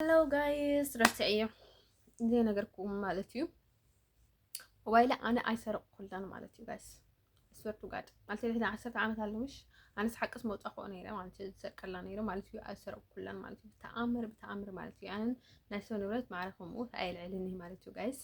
ሄሎ ጋይስ ረሲዐዮ ዘይነገርኩም ማለት እዩ ሞባይለ ኣነ ኣይሰረቕኩላን ማለት እዩ ጋይስ ስበርቱ ጋድ ማለት ድሕሪ ዓሰርተ ዓመት ኣለምሽ ኣነስ ሓቅስ መውፃእክኦ ነይረ ማለት እዩ ዝሰርቀላ ነይረ ማለት እዩ ኣይሰረቕኩላን ማለት እዩ ብተኣምር ብተኣምር ማለት እዩ ኣነን ናይ ሰው ንብረት ማዕረ ከምኡ ኣየልዕልን እዩ ማለት እዩ ጋይስ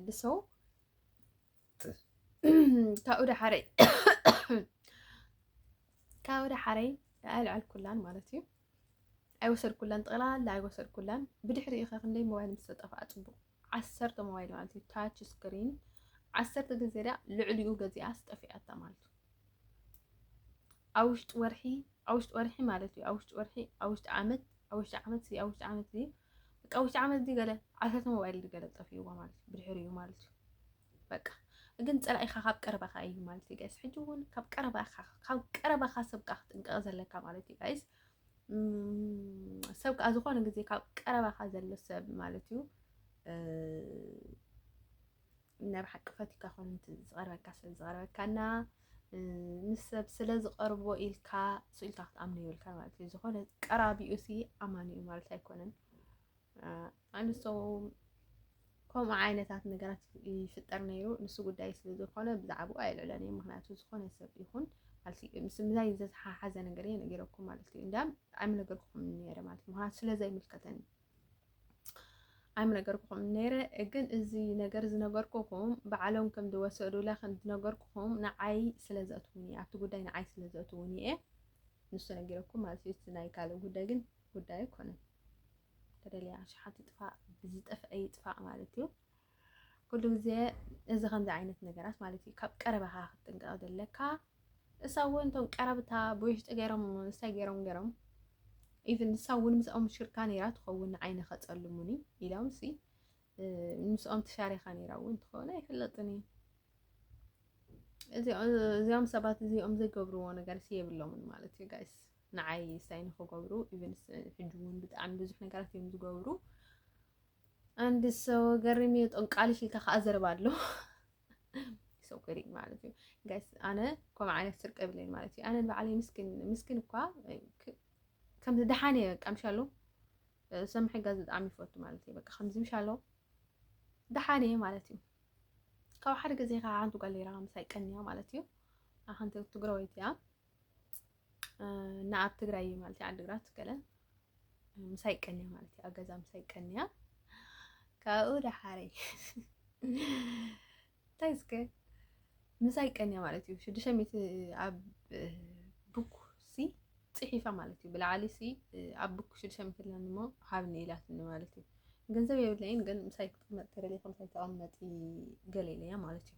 ንሰው ካብኡ ዳሓረይ ካብኡ ዳሓረይ ኣየልዐልኩላን ማለት እዩ ኣይወሰድኩላን ጠቕላላ ኣይወሰድኩላን። ብድሕሪኡ ከ ክንደይ ሞባይል ምስ ተጠፍኣ ጽቡቕ ዓሰርተ ሞባይል ማለት እዩ ታች ስክሪን ዓሰርተ ግዜ ድያ ልዕሊኡ ገዚኣስ ጠፊኣታ ማለት እዩ። ኣብ ውሽጢ ወርሒ ኣብ ውሽጢ ወርሒ ማለት እዩ ኣብ ውሽጢ ወርሒ ኣብ ውሽጢ ዓመት ኣብ ውሽጢ ዓመት እዚ ኣብ ውሽጢ ዓመት እዚ በቃ ውሽጢ ዓመት እዚ ገለ ዓሰርተ ሞባይል ገለ ጠፊእዎ ማለት እዩ ብድሕሪኡ ማለት እዩ በቃ ግን ፀላኢኻ ካብ ቀረባኻ እዩ ማለት እዩ ጋይስ። ሕጂ እውን ካብ ቀረባኻ ካብ ቀረባኻ ሰብ ከዓ ክትጥንቀቕ ዘለካ ማለት እዩ ጋይስ። ሰብ ከዓ ዝኾነ ግዜ ካብ ቀረባኻ ዘሎ ሰብ ማለት እዩ ናይ ብሓቂ ፈትካ ኮነ ዝቐርበካ ስለ ዝቐርበካና ምስ ሰብ ስለ ዝቐርቦ ኢልካ ስኢልካ ክትኣምኑ ይብልካ ማለት እዩ። ዝኾነ ቀራቢኡ ሲ ኣማኒ እዩ ማለት ኣይኮነን። ኣንሶ ከምኡ ዓይነታት ነገራት ይፍጠር ነይሩ። ንሱ ጉዳይ ስለ ዝኾነ ብዛዕባኡ ኣየልዕለን እየ። ምክንያቱ ዝኾነ ሰብ ይኹን ማለት እዩ ምስ ምዛይ ዝተሓሓዘ ነገር እየ ነገረኩም ማለት እዩ። እንዳ ኣይምነገርኩም ነይረ ማለት እዩ። ምክንያቱ ስለ ዘይምልከተኒ ኣይምነገርኩም ነይረ። ግን እዚ ነገር ዝነገርኩኹም ባዕሎም ከም ዝወሰዱላ ከም ዝነገርኩኹም ንዓይ ስለ ዘእትውኒ ኣብቲ ጉዳይ ንዓይ ስለ ዘእትውኒ እየ ንሱ ነጊረኩም ማለት እዩ። ናይ ካልእ ጉዳይ ግን ጉዳይ ኣይኮነን ተደልያ ኣሽሓት ትጥፋእ ብዝጠፍአ ይጥፋእ ማለት እዩ ኩሉ ግዜ እዚ ከምዚ ዓይነት ነገራት ማለት እዩ ካብ ቀረባኻ ክትጥንቀቕ ዘለካ እሳ እውን እቶም ቀረብታ ብውሽጢ ገይሮም እንታይ ገይሮም ገይሮም ኢቨን ንሳ እውን ምስኦም ሽርካ ነይራ ትኸውን ንዓይ ንኸፀልሙኒ ኢሎም ሲ ምስኦም ተሻሪኻ ነይራ እውን ትኸውን ኣይፍለጥን እዩ እዚኦም ሰባት እዚኦም ዘይገብርዎ ነገር ሲ የብሎምን ማለት እዩ ጋይስ ንዓይ ሳይን ንክገብሩ ኢቨንስ ሕጂ እውን ብጣዕሚ ብዙሕ ነገራት እዮም ዝገብሩ። አንድ ሰው ገሪም ጠንቃልሽ ኢልካ ከዓ ዘረባ ኣሎ ሰው ገሪም ማለት እዩ ጋይስ። ኣነ ከምኡ ዓይነት ስርቂ የብለይን ማለት እዩ። ኣነ ንባዕለይ ምስኪን ምስኪን እኳ ከም ድሓን እየ በቃ ምሻሎ ሰብ ምሕጋዝ ብጣዕሚ ይፈቱ ማለት እዩ። በቃ ከምዚ ምሻሎ ድሓን እየ ማለት እዩ። ካብ ሓደ ግዜ ከዓ ሓንቲ ጓል ኔራ ምሳይ ቀንያ ማለት እዩ። ሓንቲ ትግራወይቲ እያ እና ኣብ ትግራይ ማለት እዩ ዓዲግራት ገለ ምሳይ ቀንያ ማለት እዩ ኣብ ገዛ ምሳይ ቀንያ ካብኡ ደሓረይ እንታይ እስከ ምሳይ ቀንያ ማለት እዩ ሽዱሽተ ሚእቲ ኣብ ቡክ ሲ ፅሒፋ ማለት እዩ ብላዕሊ ሲ ኣብ ቡክ ሽዱሽተ ሚእቲ ኣለኒ እሞ ሃብኒ ኢላትኒ ማለት እዩ ገንዘብ የብለይን ግን ምሳይ ክትቅመጥ ተደልዩ ከምሳይ ተቐመጢ ገለ ኢለያ ማለት እዩ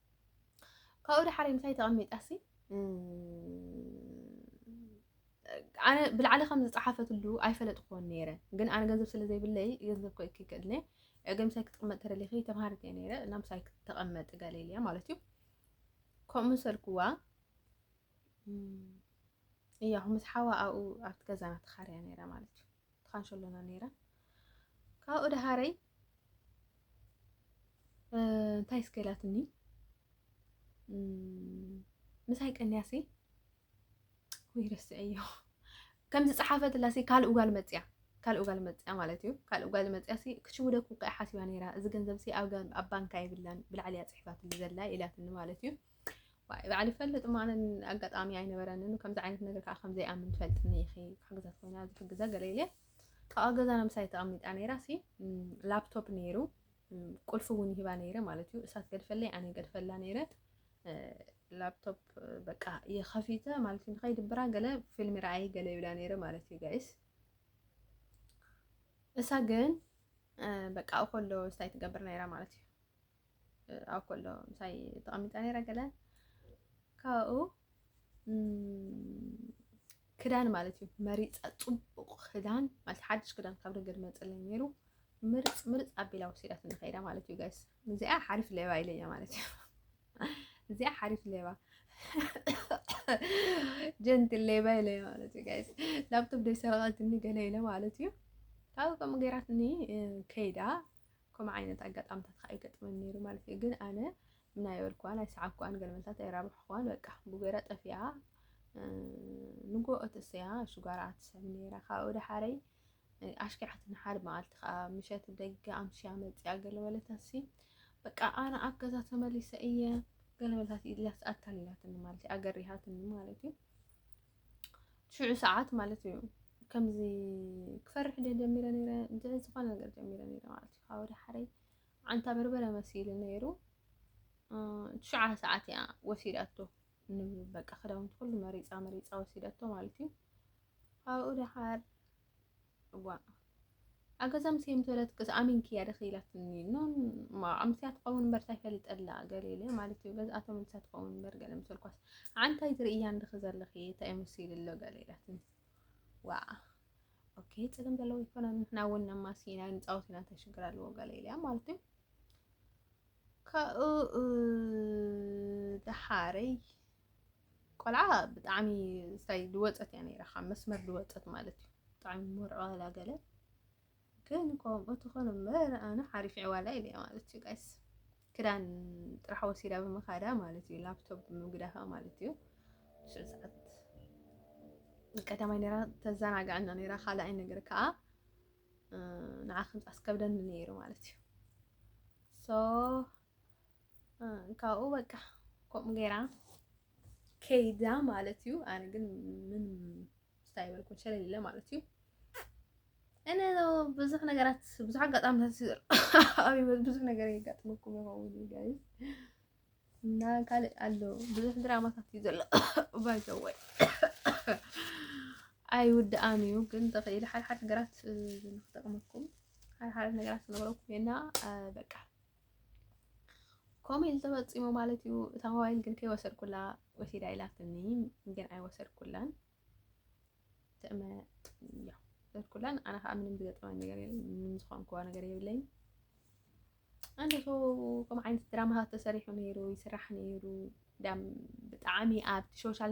ካብኡ ድሓር ምሳይ ተቐሚጣሲ ኣነ ብላዕሊ ከም ዝፀሓፈትሉ ኣይፈለጥኩዎን ነይረ ግን ኣነ ገንዘብ ስለ ዘይብለይ ገንዘብ ኮ ይክክእድለ ግን ምሳይ ክትቕመጥ ተደሊኺ ተምሃሪት እየ ነይረ እና ምሳይ ተቐመጥ ገለልያ ማለት እዩ ከምኡ ምሰልኩዋ እያ ምስ ሓዋ ኣብኡ ኣብቲ ገዛና ተኻርያ ነይራ ማለት እዩ ተኻንሸሎና ነይራ ካብኡ ድሃረይ እንታይ እስከ ኢላትኒ ምሳይ ቀንያሲ ወይ ረስዐዮ ከምዚ ፀሓፈትላሲ ካልእ ጓል መፅያ ካልእ ጓል መፅያ ማለት እዩ ካልእ ጓል መፅያ ሲ ክትሽውደኩ ከዓ ሓሲባ ነይራ እዚ ገንዘብ ሲ ኣብ ባንካ የብላን ብላዕሊ እያ ፅሒፋትሉ ዘላ ኢላትኒ ማለት እዩ ባዕሉ ይፈልጥ ማነ ኣጋጣሚ ኣይነበረንን ከምዚ ዓይነት ነገር ከዓ ከምዘይኣምን ትፈልጥኒ ኢኺ ክሕግዛት ኮይና ዝሕግዛ ገለ ኢለ ካብኡ ኣብ ገዛና ምሳይ ተቐሚጣ ነይራ ሲ ላፕቶፕ ነይሩ ቁልፊ እውን ይህባ ነይረ ማለት እዩ እሳት ገድፈለይ ኣነ ገድፈላ ነይረ ላፕቶፕ በቃ የኸፊተ ማለት እዩ ንኸይድብራ ገለ ፊልሚ ረኣይ ገለ ይብላ ነይረ ማለት እዩ ጋይስ እሳ ግን በቃ ከሎ ስታይ ትገብር ነይራ ማለት እዩ ኣብ ኮሎ ምሳይ ተቐሚጣ ነይራ ገለ ካብኡ ክዳን ማለት እዩ መሪፃ ፅቡቕ ክዳን ማለት ሓድሽ ክዳን ካብ ደገ ድመፅለይ ነይሩ ምርፅ ምርፅ ኣቢላ ወሲዳት ንኸይዳ ማለት እዩ ጋይስ እዚኣ ሓሪፍ ሌባ ኢለያ ማለት እዩ እዚኣ ሓሪፍ ሌባ ጀንቲ ሌባ ኢለያ ማለት እዩ ጋይስ ላፕቶፕ ደይሰረቐትኒ ገለ ኢለ ማለት እዩ ካብኡ ከምኡ ገይራትኒ ከይዳ ከምኡ ዓይነት ኣጋጣምታት ከኣ ይገጥመኒ ነይሩ ማለት እዩ። ግን ኣነ ምን ኣይበልኩዋን፣ ኣይሰዓብኩዋን፣ ገለ መልታት ኣይራባሕኩዋን፣ በቃ ብጎይራ ጠፊኣ። ንጎኦ ተሰያ ሽጓራኣ ትስዕብ ነይራ። ካብኡ ደሓረይ ኣሽኪዓትና ሓደ መዓልቲ ከኣ ምሸት ደገ ኣምሽያ መጽያ ገለ በለታሲ በቃ ኣነ ኣብ ገዛ ተመሊሰ እየ ገለ በለታት ኢላስ ኣታሊላትኒ ማለት እዩ፣ ኣገሪሃትኒ ማለት እዩ። ሽዑ ሰዓት ማለት እዩ ከምዚ ክፈርሕ ደ ጀሚረ ነይረ እንት ዝኾነ ነገር ጀሚረ ነይረ ማለት እዩ ካብ ወደ ሓረይ ዓንታ በርበረ መሲሉ ነይሩ ትሽዓ ሰዓት እያ ወሲዳቶ በቃ ክዳውንቲ ኩሉ መሪፃ መሪፃ ወሲዳቶ ማለት እዩ ካብኡ ደሓር እዋእ ኣገዛ ኣምስየ ምስ በለትክስ ኣሚንክያ ድኺ ኢላትኒ ኖን ኣምስያ ትኸውን እምበር እንታይ ፈሊጠላ ገለ ኢለ ማለት እዩ ገዝኣቶም ምሳ ትኸውን እምበር ገለ ምሰልኳስ ዓንታይ ትርእያ እንድኺ ዘለኺ እንታይ መሲሉ ኣሎ ገለ ኢላትኒ ዋ ኦኬ ፅልም ዘለዎ ይኮነ ንሕና እውን ነማሲና ንፃወት ኢና እንታይ ሽግር ኣለዎ ገለ ኢለያ ማለት እዩ ካብኡ ደሓረይ ቆልዓ ብጣዕሚ ስታይ ዝወፀት እያ ነይራ ካብ መስመር ዝወፀት ማለት እዩ ብጣዕሚ ሞርዖላ ገለ ግን ከምኡ ትኾነ እምበር ኣነ ሓሪፍ ዕዋላ ኢለ ማለት እዩ ጋይስ ክዳን ጥራሕ ወሲዳ ብምኻዳ ማለት እዩ ላፕቶፕ ብምግዳፋ ማለት እዩ ሽዑ ሰዓት ቀዳማይ ነራ ተዘናጋዕና ነራ ካልኣይ ነገር ከዓ ንዓ ከምፃስ ከብደኒ ነይሩ ማለት እዩ ሶ ካብኡ በቃ ከምኡ ገይራ ከይዳ ማለት እዩ። ኣነ ግን ምን ስታይ በልኩን ሸለል ኢለ ማለት እዩ። እነ ብዙሕ ነገራት ብዙሕ ኣጋጣሚታት ይዘርኣብበት ብዙሕ ነገር የጋጥመኩም ይኸውን ጋይ እና ካልእ ኣሎ ብዙሕ ድራማታት እዩ ዘሎ ባይዘወይ ኣይውድኣን እዩ ግን ተኽኢሉ ሓድሓድ ነገራት ንክጠቕመኩም ሓድሓድ ነገራት ዝነበረኩም እና በቃ ከምኡ ኢሉ ተፈፂሙ ማለት እዩ። እታ ሞባይል ግን ከይወሰድኩላ ወሲዳ ኢላትኒ፣ ግን ኣይወሰድኩላን ትእመ እያ ወሰድኩላን። ኣነ ከዓ ምንም ዝገጠመኝ ነገር የለን፣ ምንም ዝኾንኩዋ ነገር የብለይን። ኣነ ሰው ከም ዓይነት ድራማታት ተሰሪሑ ነይሩ ይስራሕ ነይሩ ዳም ብጣዕሚ ኣብቲ ሶሻል